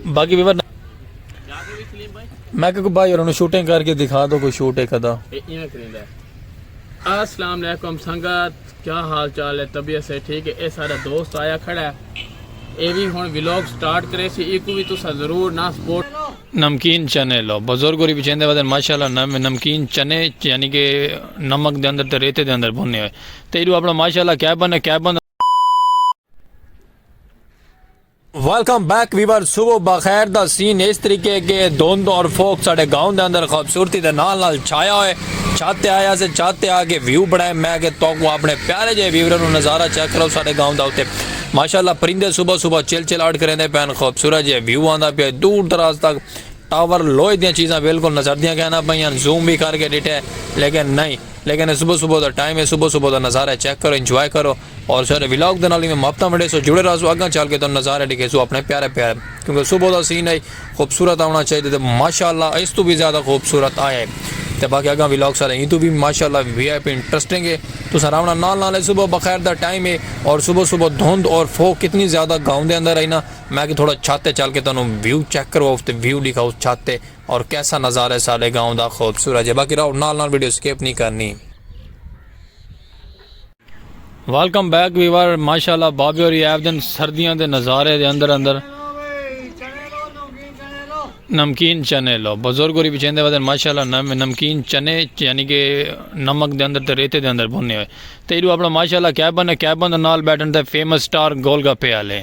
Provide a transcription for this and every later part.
باقی بھی ورنہ میں کہ کوئی بھائی انہوں شوٹنگ کر کے دکھا دو کوئی شوٹ ایک ادا السلام علیکم سنگت کیا حال چال ہے طبیعت سے ٹھیک ہے اے سارا دوست آیا کھڑا ہے اے بھی ہن ویلوگ سٹارٹ کرے سی ایکو بھی تسا ضرور نہ سپورٹ نمکین چنے لو بزرگ ہوری بچیندے ودن ماشاءاللہ نمکین چنے یعنی کہ نمک دے اندر تے ریتے دے اندر بھنے ہوئے تیڈو اپنا ماشاءاللہ کیا بندہ کیا بندہ ویلکم بیک ویور صبح بخیر دا سین اس طریقے کے دھند اور فوک ساڑے گاؤں دے اندر خوبصورتی دے نال نال چھایا ہوئے چھاتے آیا سے چھاتے آ کے ویو بڑھائے میں کہ تو کو اپنے پیارے جے ویوروں نے نظارہ چیک کرو ساڑے گاؤں دا ہوتے ماشاءاللہ پرندے صبح صبح چل چل آڑ کریں دے پہن خوبصورت جے ویو آندہ پہ دور دراز تک ٹاور لوئے دیاں چیزاں بالکل نظر دیاں کہنا پہ یہاں زوم بھی کر کے ڈٹھے لیکن نہیں لیکن اے صبح صبح دا ٹائم ہے صبح صبح دا نظارہ ہے چیک کرو انجوائے کرو اور سارے ولاگ دے نال ایویں محبتاں ونڈیسو جڑے رہسو اگاں چل کے تانوں نظارے ڈکھیسو اپنے پیارے پیارے کیونکہ صبح دا سین ہے خوبصورت آونا چاہیے تے ماشاءاللہ اس تو بھی زیادہ خوبصورت آیا ہے تے باقی اگاں ولاگ سارے ایں تو بھی ماشاءاللہ وی آئی پی انٹرسٹنگ ہے تساں راونا نال نال ہے صبح بخیر دا ٹائم ہے اور صبح صبح دھند اور فوگ کتنی زیادہ گاؤں دے اندر ہے نا میں کہ تھوڑا چھت تے چل کے تانوں ویو چیک کرواؤ تے ویو ڈکھاؤ چھت تے اور کیسا نظارہ ہے ساڈے گاؤں دا خوبصورت جے باقی راؤ نال نال ویڈیو سکپ نی کرنی۔ ویلکم بیک ویور ماشاءاللہ بابے ہوری ایب دن سردیاں دے نظارے دے اندر اندر نمکین چنے لو بزرگ ہوری بھی چیندے ودن ماشاءاللہ نمکین چنے یعنی کہ نمک دے اندر تے ریتے دے اندر بھنے ہوئے تے ایڈو اپنا ماشاءاللہ کیبن ہے کیبن دے نال بیٹھن تے فیمس سٹار گول گپے والے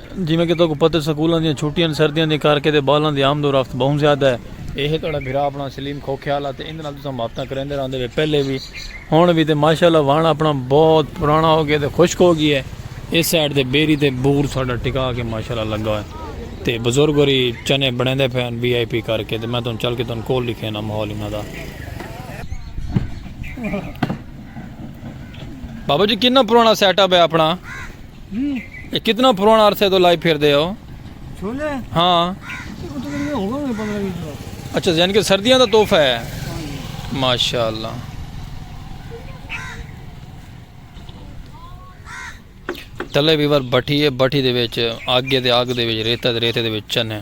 جیویں کہ تہاکوں پتہ ہے سکولاں دیاں چھٹیاں تے سردیاں دیاں کر کے تے ٻالاں دی آمد و رفت ٻہوں زیادہ ہے۔ ایہہ تہاڈا بھرا اپنا سلیم کھوکھیال آ تے ایندے نال تساں محبتاں کریندے راہندے وے پہلے وی ہنڑ وی تے ماشاء اللہ وہنڑ اپنا بہت پرانا ہو گئے تے خشک ہو گئے ایس سائیڈ تے بیری تے بور تہاڈا ٹکا کے ماشاء اللہ لگا ہوئے تے بزرگ ہوری چنے بنڑیندے پئے ہن وی آئی پی کر کے تے میں تہاڈوں چل کے تہاڈوں کول ڈکھینا ماحول انہاں دا۔ بابا جی کنا پرانا سیٹ اپ ہے اپنا۔ اے کتنا پرانا عرصے تو لائی پھر دے ہو چھولے ہاں اچھا یعنی کہ سردیاں دا تحفہ ہے ماشاءاللہ تلے بھی بار بٹھی ہے بٹھی دے وچ آگے دے آگ دے وچ ریتا دے ریتے دے وچ چن ہیں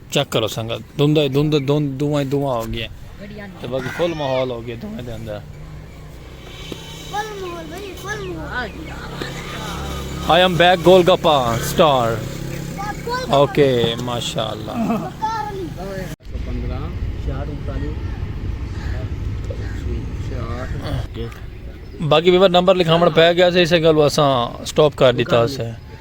چیک کرو سنگت دھنداں ہی دھند دھند دھواں ہی دھواں ہو گئیاں تے باقی فل ماحول ہو گئے دھویں دے اندر I am back goal gappa star okay ماشاءاللہ باقی ویور نمبر لکھاون پہ گیا سے اسے گل اساں سٹاپ کر دیتا سے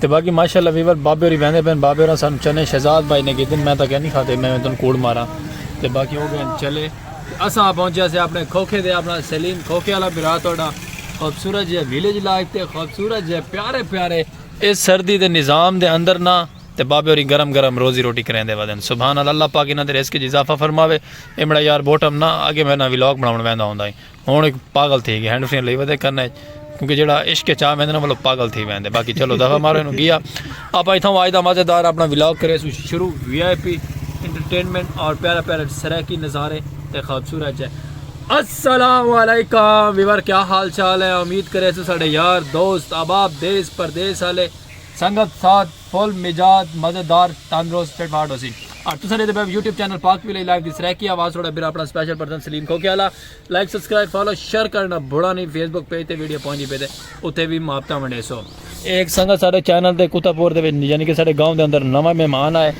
تے باقی ماشاءاللہ ویور بابے ہوری ویندے پین بابے ہوراں سانو چنے شہزاد بھائی نے کیتے میں تاں کیا نہیں کھاتے میں تن کوڑ ماراں تے باقی ہو گئے چلے اساں پہنچیا سے اپنے کھوکھے دے اپنا سلیم کھوکھے والا بھرا تہاڈا خوبصورت جے ویلیج لائف تے خوبصورت جے پیارے پیارے اس سردی دے نظام دے اندر نا تے بابے ہوری گرم گرم روزی روٹی کریندے ودن سبحان اللہ اللہ پاک انہاں دے رزق وچ اضافہ فرماوے ایمڑا یار بوٹم نا اگے میں نا ولاگ بناون ویندا ہوندا ہی ہن ایک پاگل تھی گیا ہینڈ فری لئی ودے کرنا ہے کیونکہ جڑا عشق چا ویندے نا مطلب پاگل تھی ویندے باقی چلو دفعہ مارے نو گیا اپ ایتھوں اج دا مزیدار اپنا ولاگ کرے سو شروع وی آئی پی انٹرٹینمنٹ اور پیارا پیارا سرائیکی نظارے تے خوبصورت جے السلام علیکم ویور کیا حال چال ہے امید کرے سو ساڈے یار دوست احباب دیس پردیس والے سنگت ساتھ فل مزاج مزیدار تندرست فٹ فاٹ ہوسی اور تساں دے YouTube channel Pak V live دی سرائیکی آواز تھوڑا بھرا اپنا سپیشل پرسن سلیم کھوکے والا لائک سبسکرائب فالو شیئر کرنا بھڑا نہیں فیس بک پیج تے ویڈیو پہنچی پہ تے اتھے بھی ماپتا منڈے سو ایک سنگت سارے چینل دے کتا پور دے یعنی کہ سارے گاؤں دے اندر نواں مہمان آئے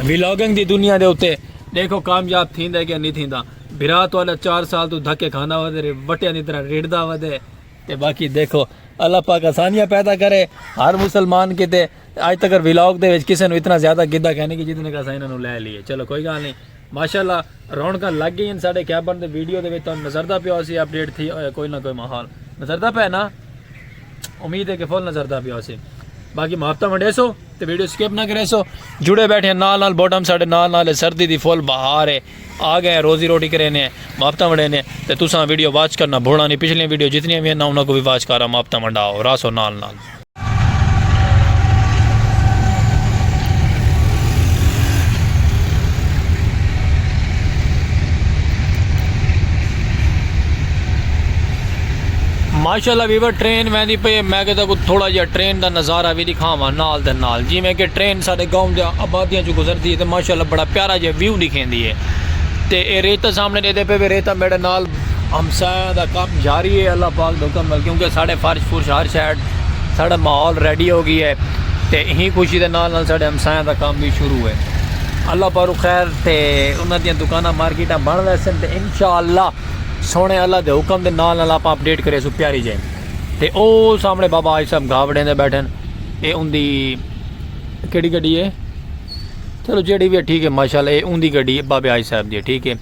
ویلاگنگ دی دنیا دے اتے دیکھو کامیاب تھیں دے گیا نہیں تھیں دا بھرا تو اللہ چار سال تو دھکے کھانا ہو دے وٹیاں دی طرح ریڑ دا ہو دے تے باقی دیکھو اللہ پاک آسانیاں پیدا کرے ہر مسلمان کی تے آج تک ویلاگ دے وچ کسے نو اتنا زیادہ گدہ کہنے کی جتنے کا سائنہ نو لے لیے چلو کوئی گا نہیں ماشاءاللہ رونقاں لگ گئین ساڈے کیبن دے ویڈیو دے وچ تہاڈے نظردا پیا ہوسی اپ ڈیٹ تھی کوئی نہ کوئی ماحول نظردا پے نا امید ہے کہ فل نظردا پیا ہوسی باقی محبتہ ونڈیسو تے ویڈیو سکپ نہ کریسو جڑے بیٹھے نال نال بوٹم ساڈے نال نال سردی دی فل بہار ہے آ گئے روزی روٹی کرینے محبتہ ونڈینے تے تساں ویڈیو واچ کرنا بھولا نہیں پچھلی ویڈیو جتنی بھی ہیں نا انہاں کو بھی واچ کرا محبتہ ونڈاؤ راسو نال نال ماشاء اللہ ویور ٹرین ویندی پی ہے میں کہتا کو تھوڑا جہا ٹرین دا نظارہ بھی دکھاواں نال دے نال جی میں کہ ٹرین سارے گاؤں دے آبادیاں چ گزردی ہے تے ماشاء اللہ بڑا پیارا جہا ویو دکھیندی ہے تے اے ریتہ سامنے ڈیدے پے وے ریتہ میڈے نال ہمسایاں دا کم جاری ہے اللہ پاک دے حکم نال کیونکہ ساڈے فرش فرش ہر شے ساڈا ماحول ریڈی ہو گئی ہے تے ایں خوشی دے نال نال ساڈے ہمسایاں دا کم وی شروع ہے اللہ پاروں خیر تے انہاں دیاں دکاناں مارکیٹاں بن ویسن تے انشاءاللہ سونے اللہ دے حکم دے نال نال آپاں اپڈیٹ کرے سو پیاری جے تے او سامنے بابا آج صاحب گھا وڈیندے بیٹھن اے ان دی کیڑی گڈی ہے چلو جیڑی بھی ہے ٹھیک ہے ماشاءاللہ اے ان دی گڈی ہے بابے آج صاحب دی ٹھیک ہے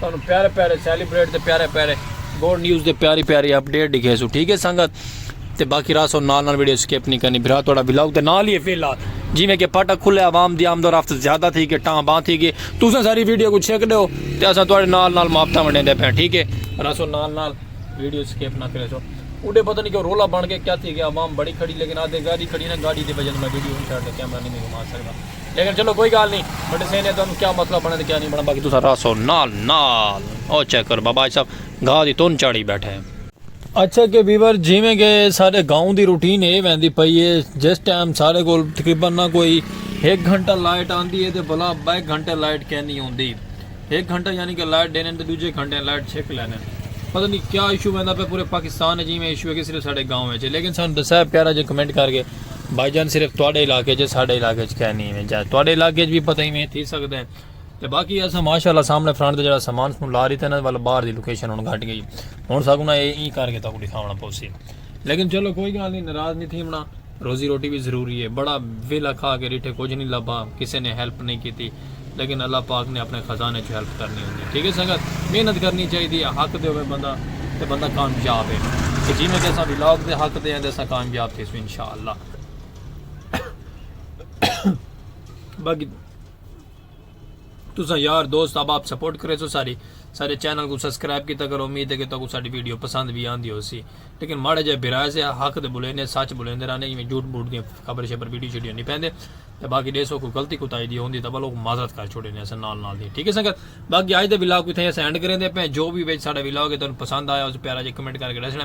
تانوں پیارے پیارے سیلیبریٹ دے پیارے پیارے گوڈ نیوز دے پیاری پیاری اپ ڈیٹ دکھے سو ٹھیک ہے سنگت تے باقی راہ سو نال نال ویڈیو سکپ نہیں کرنی بھرا تھوڑا ولاگ تے نال ہی فیلا جی میں کہ پاٹا کھلے عوام دی آمد و رفت زیادہ تھی کہ ٹاں باں تھی کہ تساں ساری ویڈیو کو چھک دیو تے اساں تھوڑے نال نال محبتاں ونڈے دے پے ٹھیک ہے راہ سو نال نال ویڈیو سکپ نہ کرے سو اڈے پتہ نہیں کہ رولا بن کے کیا تھی کہ عوام بڑی کھڑی لیکن آدھے گاڑی کھڑی نہ گاڑی دی وجہ میں ویڈیو نہیں چھڑ دے کیمرہ نہیں گھما سکدا لیکن چلو کوئی گال نہیں میں ڈسے نے تانوں کیا مسئلہ بنے تے کیا نہیں بنا باقی تساں راسو نال نال او چیک کرو بابا آج صاحب گھا دی تون چاڑی بیٹھے ہیں اچھا کہ ویور جیویں کہ سارے گاؤں دی روٹین اے ویندی پئی اے جس ٹائم سارے کول تقریبا نہ کوئی ایک گھنٹہ لائٹ آندی اے تے بلا بے گھنٹے لائٹ کینی ہوندی ہک گھنٹہ یعنی کہ لائٹ ڈیندن تے ڈوجھے گھنٹے لائٹ چھک لیندن پتہ نہیں کیا ایشو ویندا پیا پورے پاکستان اچ ایویں ایشو ہے کہ صرف ساڈے گاؤں اچ ہے لیکن سانو دسائے پیارا جے کمنٹ کر کے بھائی جان صرف تواڈے علاقے اچ ساڈے علاقے اچ کہنی ایویں جائے تواڈے علاقے اچ بھی پتہ ایویں تھی سکدا ہے تے باقی اسا ماشاءاللہ سامنے فرنٹ تے جڑا سامان سن لا ریتا نا ول باہر دی لوکیشن ہن گھٹ گئی ہن ساکوں نا اے ای کر کے تاکوں دکھاونا پوسی لیکن چلو کوئی گل نہیں ناراض نہیں تھیونا روزی روٹی وی ضروری ہے۔ بڑا ویلھا کھا کے ڈٹھے کجھ نی لبھا کسے نے ہیلپ نی کیتی لیکن اللہ پاک نے اپنے خزانے چوں ہیلپ کرنی ہوندی ٹھیک ہے سنگت محنت کرنی چاہیدی ہے حق دے ہووے بندہ تے بندہ کامیاب ہے تے جیویں کہ اساں ولاگ دے حق دے ہیں تے اساں کامیاب تھیسوں انشاءاللہ باقی تساں یار دوست احباب سپورٹ کریسو ساری سارے چینل کو سبسکرائب کیتا کرو امید ہے کہ تہاکوں ساڈی ویڈیو پسند وی آندی ہوسی لیکن ماڑا جے برائے سے حق دے بولینے سچ بولیندے رہنے ایویں جھوٹ بوٹ دی خبر شبر ویڈیو شیڈیو نہیں پیندے تے باقی دیسو کوئی غلطی کوتاہی دی ہوندی تاں بلوک معذرت کر چھوڑینے اساں نال نال دی ٹھیک ہے سنگت باقی اج دے ولاگ کو تھے اساں اینڈ کریندے پے جو بھی وچ ساڈا ولاگ ہے تانوں پسند آیا اس پیارا جے کمنٹ کر کے دسنا